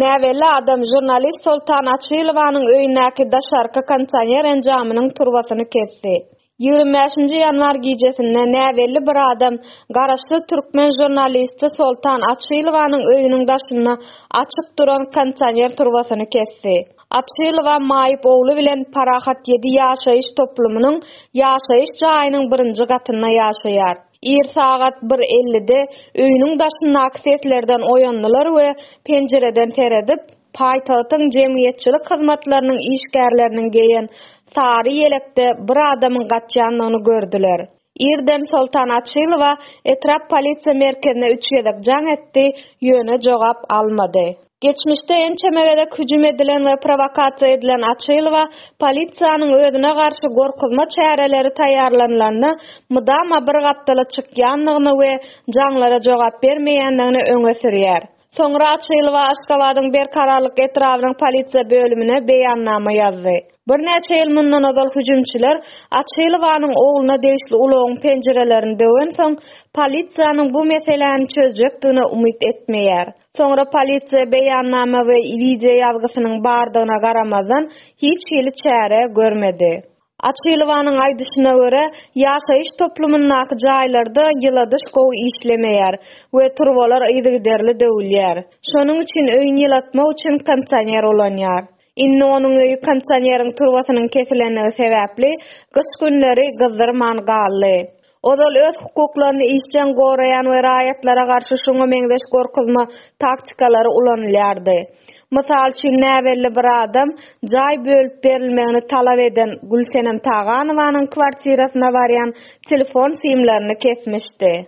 Näbelli adam žurnalist Soltan Açylowanyň öýündäki daşarky kondisioner enjamynyň turbasyny kesdi. Ýigrimi bäşinji ýanwar gijesinde näbelli bir adam garaşsyz türkmen žurnalisti Soltan Açylowanyň öýüniň daşynda açyk duran kondisioner turbasyny kesdi. Açylowa maýyp ogly bilen Parahat ýedi ýaşaýyş toplumynyň ýaşaýyş jaýynyň birinji gatynda ýaşaýar. Ir sagat bir ellide öýüniň daşyndaky seslerden oýandylar we penjireden seredip, paýtagtyň jemgyýetçilik hyzmatlarynyň işgärleriniň geýen sary ýelekde bir adamyň gaçýandygyny gördüler. Irden Soltan Açylowa etrap polisiýa merkezine üç gezek jaň etdi, ýöne jogap almady. Geçmişde ençeme gezek hüjüm edilen we prowokasiýa edilen Açylowa, polisiýanyň özüne garşy gorkuzma çäreleri taýýarlanylanda mydama bir gapdala çykýandygyny we jaňlara jogap bermeýändigini öňe sürýär. Soňra Açylowa Aşgabadyň Berkararlyk etrabynyň polisiýa bölümine beýannama ýazdy. Birnäçe ýyl mundan ozal hüjümçiler Açylowanyň ogluna degişli ulagyň penjirelerini döwensoň, polisiýanyň bu meseläni çözjekdigine umyt etmeýär. Soňra polisiýa beýannama we wideo ýazgysynyň bardygyna garamazdan, hiç hili çäre görmedi. Açylowanyň aýdyşyna görä, ýaşaýyş toplumyndaky jaýlarda ýyladyş gowy işlemeýär we turbalar yzygiderli döwülýär. Şonuň üçin öýüni ýylatmak üçin kondisioner ulanýar. Indi onuň öýi kondisioneriň turbasynyň kesilendigi sebäpli, gyş günleri gyzdyrman galdy. Ozal öz hukuklaryny işjeň goraýan we raýatlara garşy şuňa meňzeş gorkuzma taktikalary ulanylýardy. Mysal üçin, näbelli bir adam jaý bölüp berilmegini talap eden Gülsenem Taganowanyň kwartirasyna barýan telefon simlerini kesmişdi.